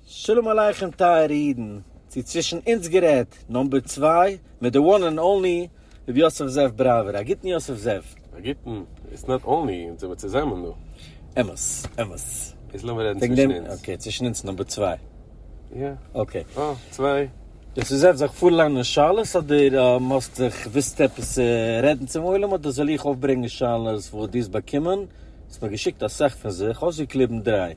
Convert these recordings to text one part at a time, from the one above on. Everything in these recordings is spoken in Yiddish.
שלום עליכם טייערע אידן, צו צווישן אונז גערעדט, נאמבער צוויי, מיט די וואן ענד אנלי ר' יוסף זאב בראווער, א גוטן יוסף זאב. א גוטן, איטס נאט אנלי, אונז זעמער צוזאמען דא. אמת, אמת. איז לאמיר רעדן צווישן אונז. אקעי, צווישן אונז נאמבער צוויי. יא. אקעי. אה, צוויי. יוסף זאב, זאל איך פארלאנגען שאלות אדער האסט זיך וויסט עפעס רעדן צום עולם אדער זאל איך אויפברענגען שאלות וואס דו האסט באקומען? האסט מיר געשיקט אסאך פון זיך, אויסגעקליבן דריי.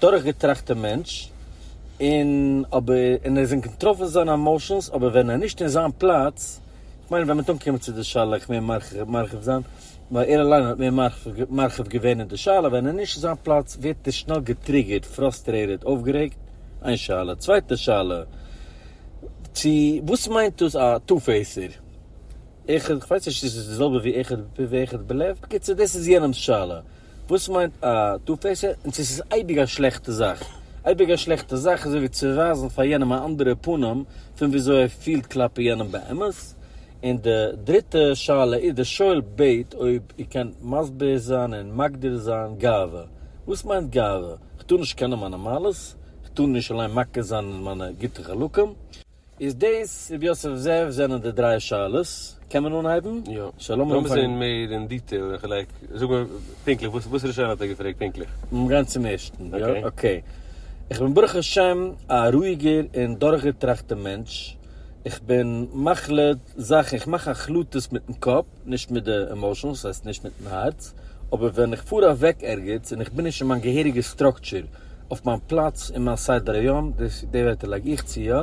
דורכגעטראכטער מענטש, און אבער און ער איז אין קאנטראל פון זיינע עמאושענס, אבער ווען ער איז נישט אין זיין פלאץ, איך מיין ווען מ'וועט אנקומען צו די שאלה וועל איך מער מרחיב מרחיב זיין, ווייל ער אליין האט מער מרחיב מרחיב געווען אין די שאלה, ווען ער איז נישט אין זיין פלאץ ווערט ער שנעל געטריגערט, פראסטרעיטעד, אויפגערעגט, איין שאלה. צווייטע שאלה, צו וואס מיינט דאס א טו פעיסער? אחד, כ'ווייס נישט צו ס'איז די זעלבע ווי אחד בפה ואחד בלב, בקיצור דאס איז יענעמ'ס שאלה. וואס מיינט א טא פעסע? און צו ס'איז אייביג א שלעכטע זאך? אייביג א שלעכטע זאך איז אזויווי צו ווייזן פאר יענעם א אנדערע פנים פון וויאזוי ער פילט כלפי יענעם באמת. און די דריטע שאלה איז, דער שואל בעט אויב איר קענט מסביר זיין און מגדיר זיין גאווה. וואס מיינט גאווה? כ'טאר נישט קענען מיינע מעלות? כ'טאר נישט אליין מכיר זיין אין מיינע גוטע חלקים? איז דאס ר' יוסף זאב? זענען די דריי שאלות, קען מען אנהייבן? יא. שוין לאמיר אנפאנגען. לאמיר זען מער אין דיטעיל איך לייק, זאג מיר פונקטליך וואס וואסערע שאלה האט ער געפרעגט פונקטליך? מיר גיין צום ערשטן, יא? אקעי. אקעי. איך בין ברוך השם א רואיגער און דורכגעטראכטער מענטש, איך בין מחליט זאכן, איך מאך החלטות מיטן קאפ, נישט מיט די עמאושענס, דאס הייסט נישט מיטן הארץ, אבער ווען איך פאר אוועק ערגעץ און איך בין נישט אין מיין געהעריגע סטראקטשער, אויף מיין פלאץ אין מיין סדר היום, די ווערטער לייג איך צו יא,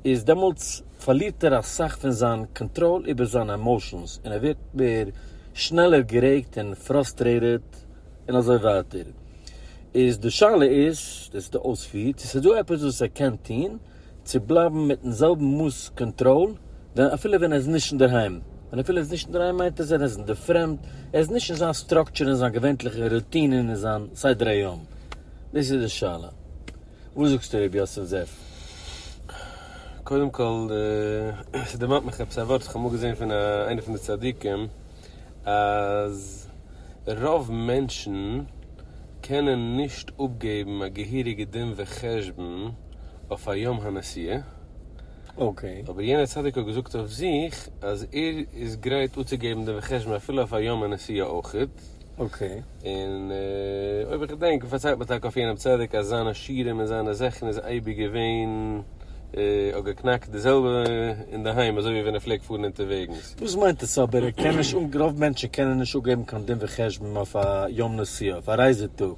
איז דעמאלטס פארלירט ער אסאך פון זיין קאנטראל איבער זיינע עמאושענס און ער ווערט מער שנעלער גערעגט און פראסטרעיטעד און אזוי ווייטער. איז די שאלה איז, דאס איז די אויספיר, צו ס'איז דא עפעס וואס ער קען טון, צו בלייבן מיטן זעלבן מאס קאנטראל ווען אפילו ווען ער איז נישט אינדערהיים, ווען אפילו ער איז נישט אינדערהיים מיינט אז ער איז אין די פרעמד, ער איז נישט אין זיין סטראקטשער אין זיין געווענטליכע רוטין און אין זיין סדר היום. דאס איז די שאלה. וואס זאגסטו ר' יוסף זאב? קודם כל, ס'דערמאנט מיך עפעס א ווארט וואס כ'האב אמאל געזען פון איינער פון די צדיקים. אז רוב מענטשן קענען נישט אפגעבן א געהיריגע דין וחשבון אויף א יום הנסיעה, אבער יענער צדיק האט געזאגט אויף זיך אז ער איז גרייט אפצוגעבן דין וחשבון אפילו אויף א יום הנסיעה אויך. אקעי. און אויב איך געדענק פארציילט מען טאקע אויף יענעם צדיק אז זיינע שירים און זיינע זאכן איז אייביג געווען אויף געקנאקט די זעלבע אינדערהיים אזוי ווי ווען ער פלעגט פארן אונטערוועגנס. וואס מיינט עס אבער ער קען נישט רוב מענטשן קענען נישט אפגעבן קיין דין וחשבון אויף א יום נסיעה אויף א רייזע טאג.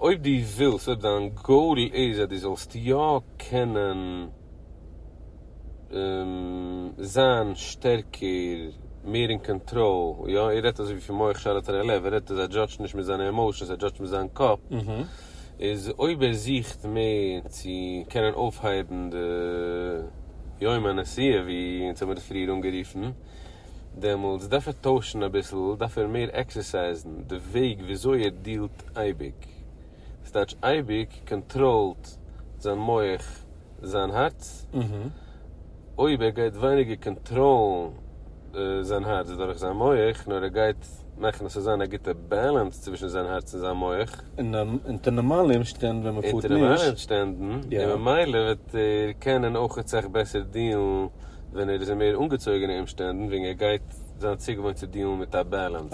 אויב דו ווילסט, אויב דיין גאול איז אז דו זאלסט יא קענען זיין שטערקער, מער אין קאנטראל, יא, ער רעדט אזוי ווי פון מח שרת הרי הלב, ער רעדט אז ער דזשאדזשט נישט מיט זיינע עמאושענס, ער דזשאדזשט מיט זיין קאפ, איז אויב ער זוכט מער צו קענען אויפהייבן די יום הנסיעה ווי אונז האבן עס פריער אנגערופן, דעמאלטס דארף ער טוישן אביסל, דארף ער מער עקסערסייזן די וועג וויאזוי ער דילט אייביג, דאס טייטש אייביג קאנטראלט זיין מח זיין הארץ, אויב ער גייט ווייניגער קאנטראלן זיין הארץ דורך זיין מח, נאר ער גייט מאכן אז ס'זאל זיין א גוטע באלאנס צווישן זיין הארץ און זיין מח. אונטער נארמאלע אומשטענדן ווען מ'פארט נישט. אונטער נארמאלע אומשטענדן, און ממילא וועט ער קענען אויך סאך בעסער דילן ווען ער איז אין מער אנגעצויגענע אומשטענדן וועגן ער גייט זיין צוגעוואוינט צו דיעלן מיט א בעלענס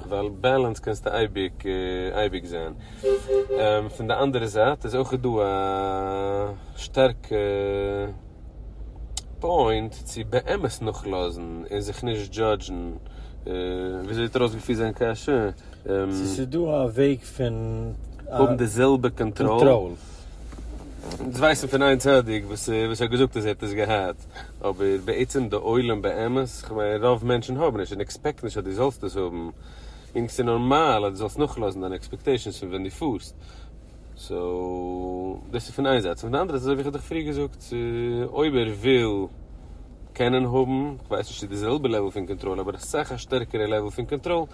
ווייל בעלענס קענסטו אייביג אייביג זיין. פון די אנדערע זייט איז אויך דא א שטארקע פוינט צו באמת נאכלאזן און זיך נישט דזשאדזשן. וויאזוי האט איר אויסגעפירט זיין קשיא? צו ס'איז דא א וועג פון האבן די זעלבע קאנטראל? אונז ווייסן פון איין צדיק וואס וואס ער האט געזאגט אז ער האט עס געהאט, אבער בעצם די עולם באמת, כ'מיין רוב מענטשן האבן נישט און עקספעקט נישט אז דו זאלסט עס האבן, און ס'איז נארמאל אז דו זאלסט נאכלאזן דיינע עקספעקטעישאנס פון ווען דו פארסט, סאו דאס איז פון איין זייט, פון די אנדערע זייט אזוי ווי איך האב דיך פריער געזאגט, צו אויב ער וויל קענען האבן, כ'ווייס נישט צו די זעלבע לעוול פון קאנטראל, אבער אסאך א שטערקערע לעוול פון קאנטראל,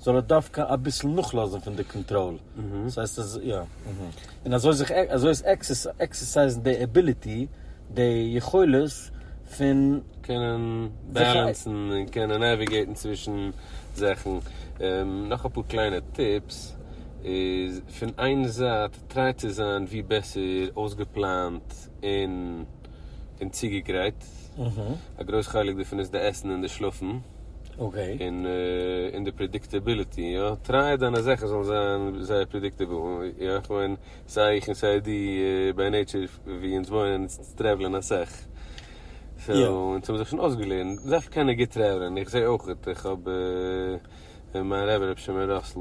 זאל ער דווקא אביסל נאכלאזן פון די קאנטראל, דאס הייסט אז יא, און אזוי זיך אזוי עס עקסערסייזן די עביליטי, די יכולת פון. קענען בעלענסן און קענען נעוויגעיטן צווישן זאכן, נאך אפאר קליינע טיפס איז, פון איין זייט טריי צו זיין ווי בעסער אויסגעפלאנט און. און צוגעגרייט, א גרויס חלק דערפון איז די עסן און די שלאפן, און די פרעדיקטעביליטי, יא, טריי דיינע זאכן זאלן זיין זייער פרעדיקטעבל, יא, איך מיין סיי איך און סיי דו ביי נעיטשער ווי אונז וואוינען אונז טרעוולען אסאך, סאו אונז האבן זיך שוין אויסגעלערנט, מען דארף קענען גוט טרעוולען, איך זע אויך, איך האב מיין רבי רבי שמעון ראסל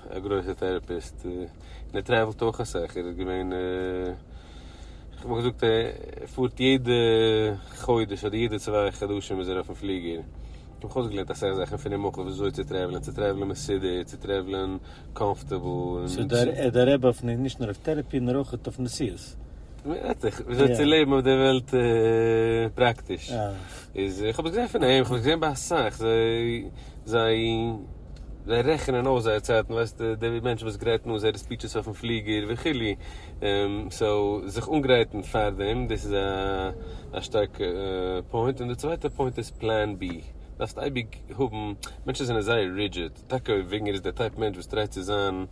א גרויסע טעראפיסט. און ער טרעוולט אויך אסאך, ער איז געווען, איך האב מיר געזאגט, ער פארט יעדע חודש אדער יעדע צוויי חדשים איז ער אויפן פליגער, איך האב מיך אויסגעלערנט אסאך זאכן פון אים אויך אויף וויאזוי צו טרעוולען, צו טרעוולען מסודר, צו טרעוולען קאמפארטעבל. סאו דער איז דער רבי אויף נישט נאר אויף טערעפי נאר אויך אויף נסיעות. בטח, וויאזוי צו לעבן אויף דער וועלט פראקטיש, איז איך האב עס געזען פון אים, איך האב עס געזען ביי אסאך, זיי זיי זיי רעכענען אויס זייער צייטן, ווייסט די מענטשן וואס גרייטן אן זייערע ספיטשעס אויפן פליגער וכו', סאו זיך אנגרייטן פאר דעם, דאס איז א שטארקע פוינט, און די צווייטע פוינט איז פלען בי, דארפסט אייביג האבן, מענטשן זענען זייער רידזשיד, טאקע וועגן ער איז די טייפ מענטש וואס טרייט צו זיין,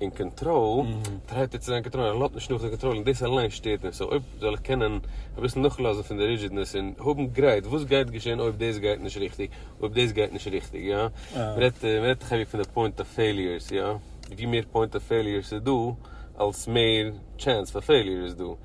אין קאנטראל, טרייט ער צו זיין אין קאנטראל, ער לאזט נישט נאך די קאנטראל און דאס אליין שטערט אים, סאו אויב זאל איך קענען אביסל נאכלאזן פון די רידזשידנעס און האבן גרייט וואס גייט געשען אויב דאס גייט נישט ריכטיג, אויב דאס גייט נישט ריכטיג, יא? מ'רעדט מ'רעדט חלק פון די פוינט אוו פעיליערס, יא? ווי מער פוינט אוו פעיליערס איז דא, אלס מער טשענס פאר פעיליער איז דא.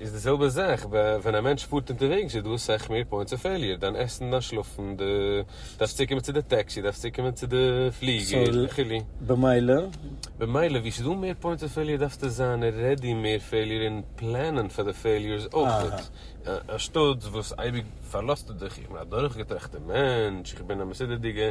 איז די זעלבע זאך ווען א מענטש פארט אונטערוועגס איז דא אסאך מער פוינטס אוו פעיליער, דיין עסן, דיין שלאפן, די דארפסט צוקומען צו די טעקסי, דארפסט צוקומען צו די פליגער וכו'. במילא? במילא ווי ס'איז דא מער פוינטס אוו פעיליער דארפסטו זיין רעדי מער פעיליער און פלאנען פאר די פעיליערס אויכעט. אנשטאט וואס אייביג פארלאזטו דיך, איך בין א דורכגעטראכטע מענטש, איך בין א מסודר'דיגע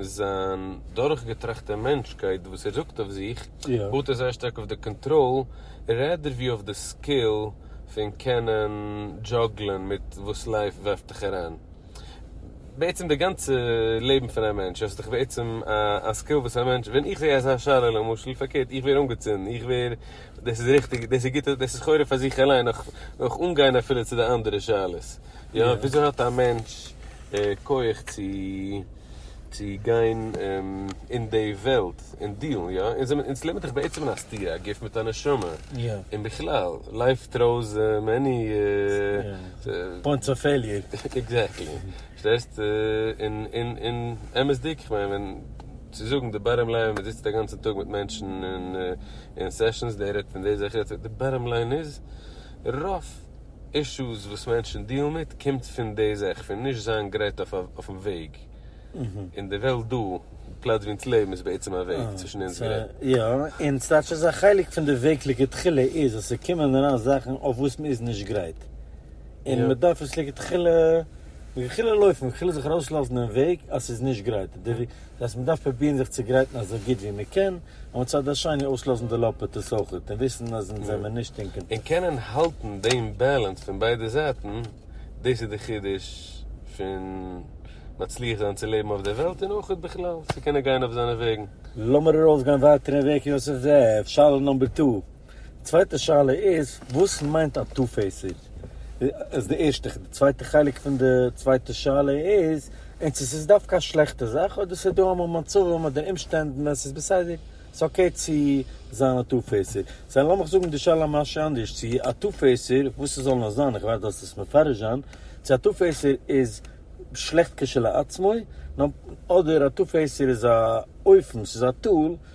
זיין דורכגעטראכטע מענטשקייט וואס ער זאגט אויף זיך, בויט ער זייער שטארק אויף די קאנטראל רעדער ווי אויף די סקיל פון קענען דזשאגלען מיט וואס לייף ווערפט דיך אריין. בעצם די גאנצע לעבן פון א מענטש איז דאך בעצם א סקיל וואס א מענטש, ווען איך זע אזא שאלה למשל, פארקערט איך ווער אנגעצינדן, איך ווער, דאס איז ריכטיג, דאס איז גוט, דאס איז סחורה פאר זיך אליין, נאך אנגיין אפילו צו די אנדערע שאלות, יא, וויאזוי האט א מענטש, כח צו צו גיין אין די וועלט און דילן יא און ס'לעבט דאך בעצם אין א סתירה א גוף מיט א נשמה און בכלל לייף טראוס מעני פוינטס אוו פעיליער עקזעקטלי פארשטייסט און און אמת'דיג כ'מיין ווען צו זאגן די באטאם ליין מ'זיצט א גאנצן טאג מיט מענטשן און סעשאנס דער רעדט פון די זאך דער רעדט פון די באטאם ליין איז רוב אישוס וואס מענטשן דיעלן מיט קומט פון די זעך פון נישט זיין גרייט אויפן וועג און די וועלט דא פלאץ ווי אונז לעבן איז בעצם א וועג צווישן אונז גרעד. יא און ס'טייטש אז א חלק פון די וועג לכתחילה איז אז ס'קומען אריין זאכן אויף וואס מ'איז נישט גרייט און מ'דארף עס לכתחילה לכתחילה לויפן לכתחילה זיך ארויסלאזן אין וועג אז ס'איז נישט גרייט דאס הייסט מ'דארף פרובירן זיך צו גרייטן אזוי גוט ווי מ'קען און מצד השני אויסלאזן די לאפעטעס אויכעט און וויסן אז אונז זעמער נישט אינקאמפעטענט. און קענען האלטן דעם בעלענס פון ביידע זייטן, דאס איז די חידוש פון מצליח זיין צו לעבן אויף דער וועלט און אויכעט בכלל, צו קענען גיין אויף זיינע וועגן. לאמיר ארויסגיין ווייטער אין וועג יוסף זאב, שאלה נומבער טו. צווייטע שאלה איז וואס מיינט א טו פעיסער? איז די ערשטע, די צווייטע חלק פון די צווייטע שאלה איז און צו ס'איז דווקא א שלעכטע זאך אדער ס'איז דא אמאל מצבים אדער אומשטענדן ווען ס'איז בסדר, ס'איז אקעי צו זיין א טו פעיסער. סא לאמיך זאגן די שאלה משהו אנדערש, צו א טו פעיסער, וואס ס'זאל נאר זיין, איך ווארט דו זאלסט עס מפרש זיין, צו א טו פעיסער איז שלעכט כשלעצמו, אדער א טו פעיסער איז א אופן, ס'איז א טול,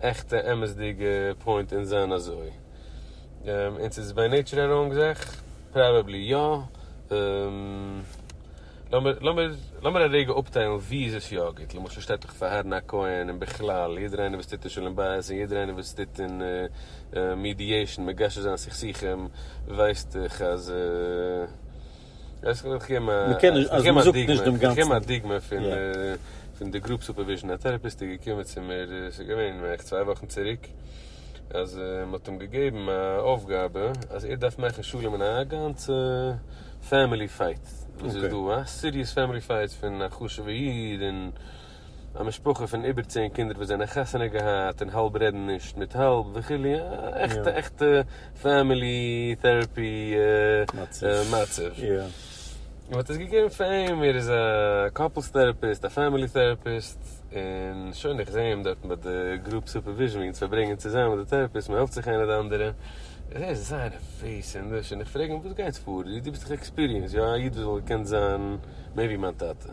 עכטע אמת'דיגע פוינט אין זיין אזוי. און צו איז ביי נעיטשור א ראונג זאך? פראבעבלי יא. לאמיר לאמיר לאמיר א רגע אפטיילן וואו איז עס יא גוט, למשל שטעטלעך פאר אהרן הכהן און בכלל יעדער איינער וואס טוט אין שלום בית און יעדער איינער וואס טוט אין מידיעישן מגשר זיין סכסוכים ווייסט דאך אז איך גיב אים א דוגמא פון די גרופ סופערוויזשען, א טעראפיסט איז געקומען צו מיר, ס'איז געווען מיין איך צוויי וואכן צוריק, אז מ'האט אים געגעבן א אויפגאבע אז ער דארף מאכן שלום אין א גאנצע פעמילי פייט, וואס איז דא א סיריעס פעמילי פייט פון א חשוב'ע איד און. א משפחה פון איבער צען קינדער וואס זענען חתונה געהאט און האלב רעדן נישט מיט האלב וכו', א עכטע עכטע פעמילי טעראפי מצב, מען האט עס געגעבן פאר אים, ער איז א קאפלס טעראפיסט, א פעמילי טעראפיסט, און שוין, איך זע אים דארטן ביי די גרופ סופערוויזשאן ווי אונז פארברענגען צוזאמען מיט די טעראפיסט, מען העלפט זיך איינער די אנדערע, איך זע זייער נערוועז און דאס, און איך פרעג אים וואס גייט פאר, דו ביסט דאך עקספיריענסד, יא, א איד וואס זאל געקענט זיין מער ווי מיין טאטע.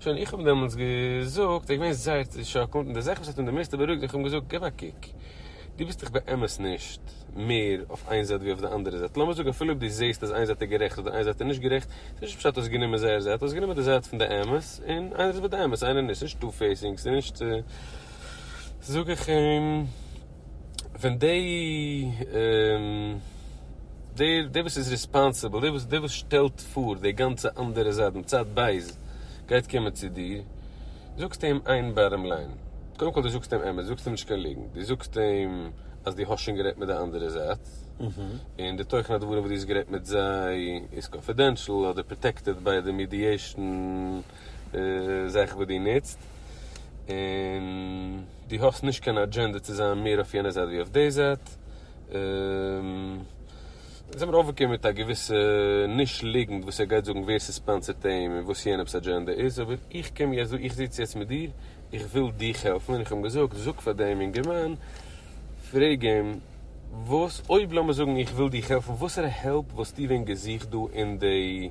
שוין איך האב דעמאלטס געזאגט, ער איז געווען זייער צושאקלט, און די זאך וואס האט אים די מערסטע בארואיגט איך האב אים געזאגט גיב א קוק, דו ביסט דאך באמת נישט מער אויף איין זייט ווי אויף די אנדערע זייט, לאמיר זאגן אפילו אויב דו זעסט אז איין זייט איז גערעכט אדער איין זייט איז נישט גערעכט, ס'איז נישט פשט דו האסט גענומען זייער זייט, דו האסט גענומען די זייט פון די אמת, און איינער איז ביי די אמת איינער נישט, ס'איז נישט טו פעיסינג, ס'איז נישט, זאג איך אים. פון די די די וואס איז ריספאנסיבל די וואס די וואס שטעלט פאר די גאנצע אנדערע זייט דעם צד בית גייט קומען צו דיר זאגסט אים איין בארעם ליין קודם כל די זאגסט אים אמת די זאגסט אים נישט קיין ליגנט די זאגסט אים אז די האסט שוין גערעדט מיט די אנדערע זייט און די תוכן הדברים וואס די האסט גערעדט מיט זיי איז קאנפידענשל אדער פראטעקטעד ביי די מידיעישן זאך וואס די ניצט און. דו האסט נישט קיין אג'ענדע צו זיין מער אויף יענע זייט ווי אויף די זייט. אונז זעמיר אויפגעקומען מיט א געוויסע נישט ליגנט וואס ער גייט זאגן ווער ס'ספאנסערט אים און וואס יענעמס אג'ענדע איז, אבער איך קום יעצט דא, איך זיץ יעצט מיט דיר, איך וויל דיך העלפן און איך האב אים געזאגט זאג פאר דעם אינגערמאן, פרעג אים וואס, אויב לאמיר זאגן איך וויל דיך העלפן, וואסערע העלפ וואלסטו ווען געזוכט דא אין די.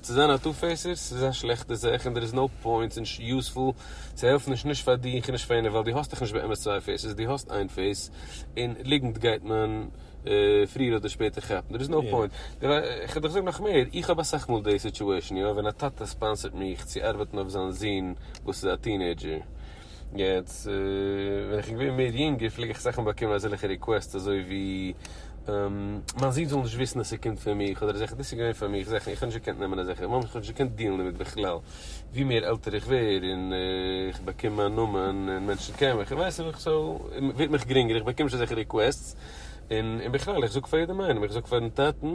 צו זיין א טו פעיסער ס'איז א שלעכטע זאך און דער איז נאו פוינט ס'איז נישט יוזפול ס'העלפט נישט נישט פאר דיך און נישט פאר יענער ווייל דו האסט דאך נישט באמת צוויי פעיסעס דו האסט איין פעיס און ליגנט גייט מען פריער אדער שפעטער כאפן דער איז נאו פוינט כ'וועל דיך זאגן נאך מער איך האב אסאך מאל די סיטועשן יא ווען א טאטע ספאנסערט מיך צו ארבעטן אויף זיין זון וואס איז א טינעידזשער יעצט ווען איך בין געווען מער יונגער פלעג איך אסאך מאל באקומען אזעלעכע ריקוועסטס אזוי ווי מיין זון זאל נישט וויסן אז ס'קומט פון מיך אדער אזעלכע, דאס איז געווען פאר מיך זאכן איך האב נישט געקענט נעמען אזעלכע, איך האב מיך נישט געקענט דיעלן דערמיט בכלל, ווי מער עלטער איך ווער און איך באקום א נאמען און מענטשן קענען מיך און ווייסן מיך סאו ווערט מיך גרינגער איך באקום נישט אזעלכע ריקוועסטס און בכלל איך זאג פאר יעדעם איינעם איך זאג פארן טאטן.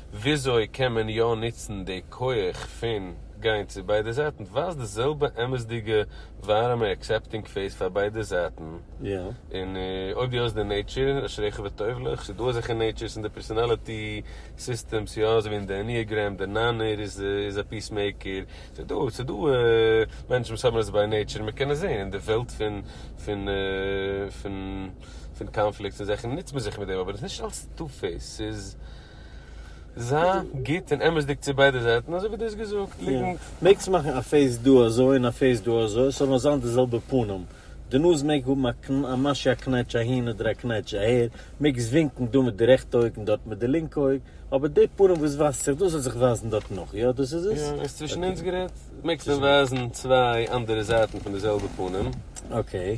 וויאזוי קען מען יא נוצן די כח פון גיין צו ביידע זייטן? ווייז די זעלבע אמת'דיגע ווארעמע עקסעפטינג פעיס פאר ביידע זייטן, און אויב די האסט די נעיטשער, אשריך וטוב לך, ס'איז דא אזעלכע נעיטשערס אין די פערסאנאליטי סיסטעמס, יא, אזויווי אין די אניאגרעם, די ניינער איז א פיס מעיקער, ס'איז דא מענטשן וואס האבן עס ביי נעיטשער, מ'קען עס זעהן אין די וועלט פון קאנפליקטס און זאכן, נוצט מען זיך מיט דעם, אבער עס איז נישט אלס טו פעיס, ס'איז. זיי גוט און אמת'דיג צו ביידע זייטן, אזוי ווי דו האסט געזאגט, ליגנט. מעגסט מאכן א פעיס דא אזוי און א פעיס דא אזוי, ס'זאל נאר זיין די זעלבע פנים, די נאז מעג האבן א קנ א משהו א קנעטש אהין אדער א קנעטש אהער, מעגסט ווינקן דא מיט די רעכטע אויג און דארט מיט די לינקע אויג, אבער די פנים וואס ווייזט זיך דא זאל זיך ווייזן דארט נאך, יא? דאס איז עס? יא, איז צווישן אונז גערעדט, מעגסט ווען ווייזן צוויי אנדערע זייטן פון די זעלבע פנים. אקעי.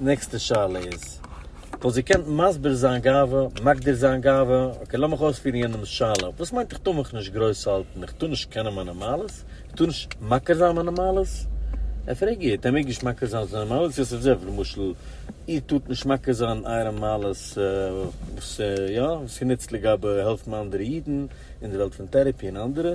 נעקסטע שאלה איז, וואלט זי געקענט מסביר זיין גאווה, מגדיר זיין גאווה, אקעי לאמיך אויספירן יענעמס שאלה, וואס מיינט איך טאר מיך נישט גרויס האלטן, איך טאר נישט קענען מיינע מעלות, איך טאר נישט מכיר זיין מיינע מעלות? ער פרעגט גוט, ער מעג נישט מכיר זיין זיינע מעלות, יוסף זאגט למשל, איר טארט נישט מכיר זיין אייערע מעלות, וואס יא, וואס נוצט לגבי העלפן אנדערע אידן, אין די וועלט פון טערעפי און אנדערע.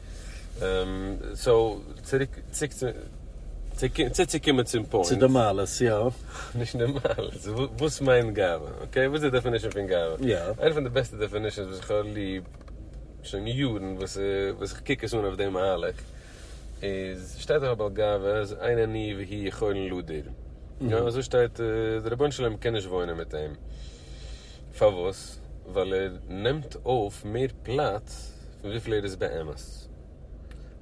סאו צוריק צוריק צו צוצוקומען צום פוינט. צו די מעלות יא. נישט די מעלות, וואס מיינט גאווה? אקעי, וואס איז די דעפינישאן פון גאווה? יא. איינע פון די בעסטע דעפינישאנס וואס איך האב ליב שוין יארן וואס וואס איך קוק עס אן אויף די מהלך איז, שטייט דאך אבל גאווה אז אין אני והיא יכולין לו דיר. אזוי שטייט, דער רבונו של עולם קען נישט וואוינען מיט אים. פארוואס? ווייל ער נעמט אויף מער פלאץ פון וויפיל ער איז באמת.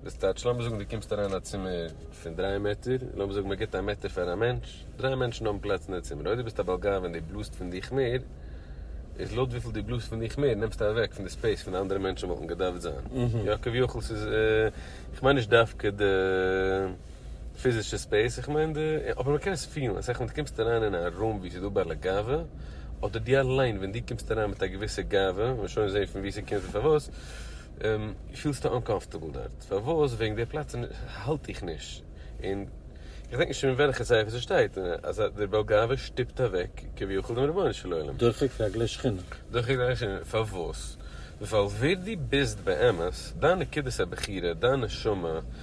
דאס טייטש, לאמיר זאגן דו קומסט אריין אין א צימער פון דריי מעטער, לאמיר זאגן מען גיבט א מעטער פאר א מענטש, דריי מענטשן האבן פלאץ אין די צימער, אויב דו ביסט א בעל גאוה און דו בלאזט פון דיך מער, איז לויט וויפיל דו בלאזט פון דיך מער נעמסטו אוועק פון די ספעיס פון אנדערע מענטשן וואלטן געדארפט זיין, יא כביכול ס'איז, איך מיין נישט דווקא די. פיזישע ספעיס, איך מיין די, אבער מען קען עס פילן, אסאך ווען די קומסט אריין אין א רום ווי ס'איז דא בעלי גאווה, אדער די אליין ווען די קומסט אריין מיט א געוויסע גאווה, מען וועט שוין זעהן פון ווי ס'קומט און פארוואס, פילסטו אנקאמפארטעבל דארט, פארוואס, וועגן די פלאץ האלט איך נישט אין, איך דענק נישט אין וועלכע ספר ס'שטייט, אז דער בעל גאווה שטופט אוועק כביכול דעם רבונו של עולם. דוחק רגלי שכינה. דוחק רגלי שכינה, פארוואס? וויבאלד ווער די ביסט באמת, דיין נקודת הבחירה, דיין נשמה,